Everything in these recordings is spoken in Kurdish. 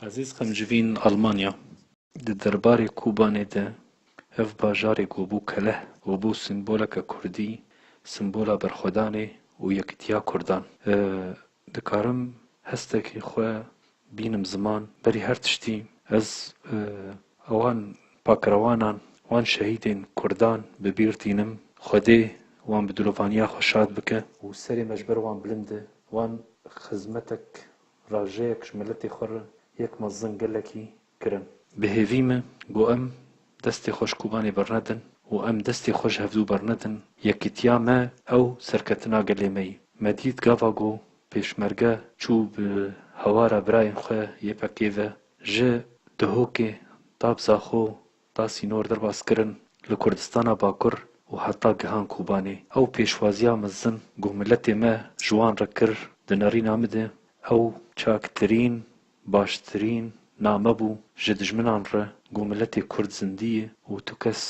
Ezîz qimcivîn Almanya. Di derbarê Kobanê de ev bajarê ku bû keleh û bû simboleke kurdî, simbola berxwedanê û yekitiya kurdan. Dikarim hestekî xwe bînim ziman, berî her tiştî ez wan pakrewanan, wan şehîdên kurdan bi bîr tînim. Xwedê wan bi dilovaniya xwe şad bike. Û serê me ji ber wan bilind e. Wan xizmetek Rajeyek ji miletê xwe re yek mezin gelekî kirin. Bi hêvî me got em destê xwe ji Kobanê bernedin û em destê xwe ji hevdu bernedin, yekîtiya me ew serketina gelê me yî. Me dît gava ku pêşmerge çû bi hewara birayên xwe yê PKK'ê ve ji Dihokê, Tabzaxo, da sînor derbas kirin li Kurdistana Bakur û heta gihan Kobanê. Ew pêşwaziya mezin ku miletê me ji wan re kir di nerîna min de ew çaktirîn, baştirîn name bû ji dijminan re ku miletê Kurd zindî ye û tu kes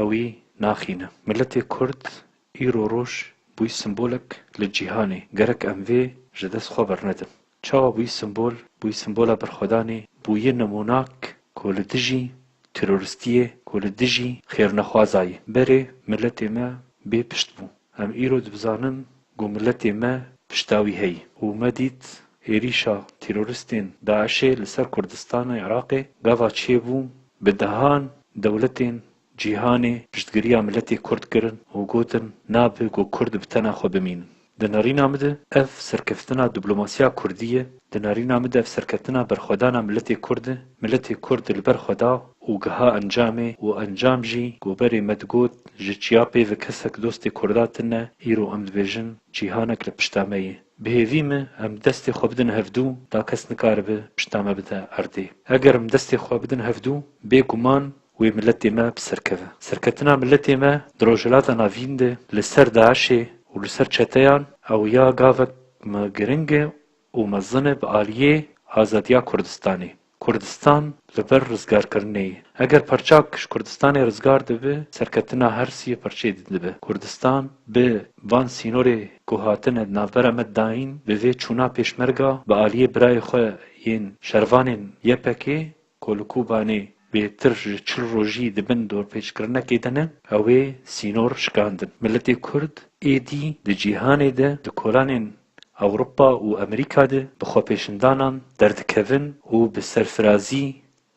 ewî naxîne. Miletê Kurd îro roj bûy simbolek li cîhanê. Gerek em vê ji dest xwe bernedin. Çawa bûyî simbol? Bûyî simbola berxwedanê, bûyî nimûnak ku li dijî teroristiyê, ku li dijî xêrnexwazayê berê miletê me bê pişt bû. Em îro dibizanin ku miletê me pişta wî heye û me dît êrîşa teroristên DAIŞ'ê li ser Kurdistanê, Iraqê gava çêbû bi dehan dewletên Cîhanê piştgiriya miletê kurd kirin û gotin nabe ku kurd bi tena xwe bimînin. Di nerîna min de ev serkeftina diplomasîya kurdî ye, di nerîna min de ev serkeftina berxwedana miletê kurd e, miletê kurd li ber xwe da û giha encamê û encam jî ku berê me digot ji çiya peyve kesek dostê kurda tine îro em dibêjin cîhanek li pişta me ye. Bi hêvî me em destê xwe bidin hevdû da kes nikaribe pişta me bide erdê. Eger em destê xwe bidin hevdû bê guman Wê miletê me bi ser keve. Serketina miletê me di Rojhilata Navîn de li ser DAIŞ'ê û li ser çeteyan ew ya gavek me giring e û mezin e bi aliyê azadiya Kurdistanê. Kurdistan li ber rizgarkirinê ye. Eger parçak ji Kurdistanê rizgar dibe, serketina her sî parçeyê din dibe. Kurdistan bi van sînorê ku hatine di navbera me dayîn, bi vê çûna Pêşmerga bi aliyê birayê xwe yên şervanên YPK'ê Ku li Kobanê bêtir ji çil rojî di bin dorpêçkirinekê de ne, ew ê sînor şikandin. Miletê Kurd êdî di cîhanê de, di kolanên Ewropa û Amerîka de bi xwepêşindanan derdikevin û bi serfirazî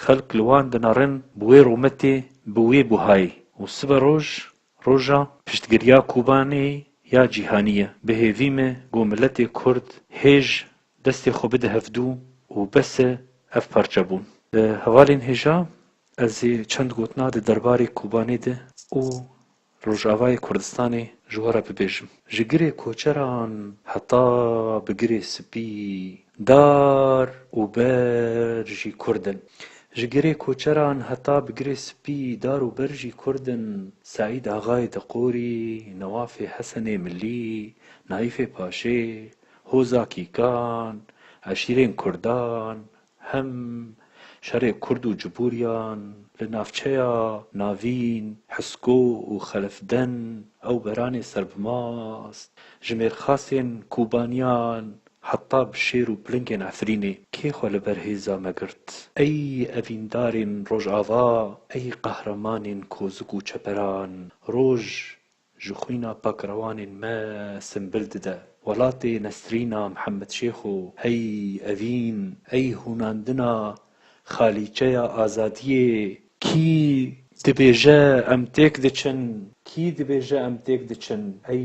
xelk li wan dinarin bi wê rûmetê, bi wê buhayê û siberoj Roja piştgiriya Kobanê ya cîhanî ye. Bi hêvî me ku miletê Kurd hêj destê xwe bide hevdû û bes e ev parçebûn. Li hevalên hêja ez ê çend gotina di derbarê Kobanê de û Rojavayê Kurdistanê ji we re bibêjim. Ji girê koçeran heta bi girê spî Dar û ber jî kurd in. Ji girê koçeran heta bi girê spî dar û ber jî kurd in. Seîd Axayê Diqorî, Newafê Hesenê Milî, Naîfê Paşê, Hoza Kîkan, eşîrên kurdan, hem şerê kurd û cibûriyan li navçeya navîn Hisko û Xelifden ew beranê serbimast, jimêrxasên Kobaniyan Heta bi şêr û pilingên Efrînê kê xwe li ber hêza me girt? Ey evîndarên Rojava, ey qehremanên kozik û çeperan, roj ji xwîna pakrewanên me simbil dide. Welatê Nesrîna Mihemedşêxo, hey evîn, ey hûnandina xalîçeya azadiyê, kî dibêje em têk diçin, kî dibêje em têk diçin, ey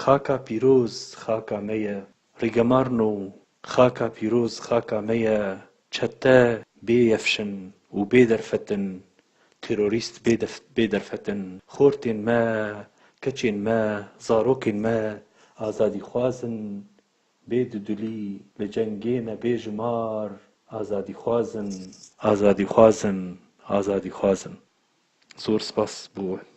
Xaka pîroz xaka me ye. Rîgemarno Xaka pîroz xaka me ye, çete bê yefşin û bê derfetin, terorîst bê bê derfetin, xortên me, keçên me, zarokên me azadîxwaz in, bê dudulî li cengê me bê jimar azadîxwaz in, azadîxwaz in, azadîxwaz in. Zor spas bo we.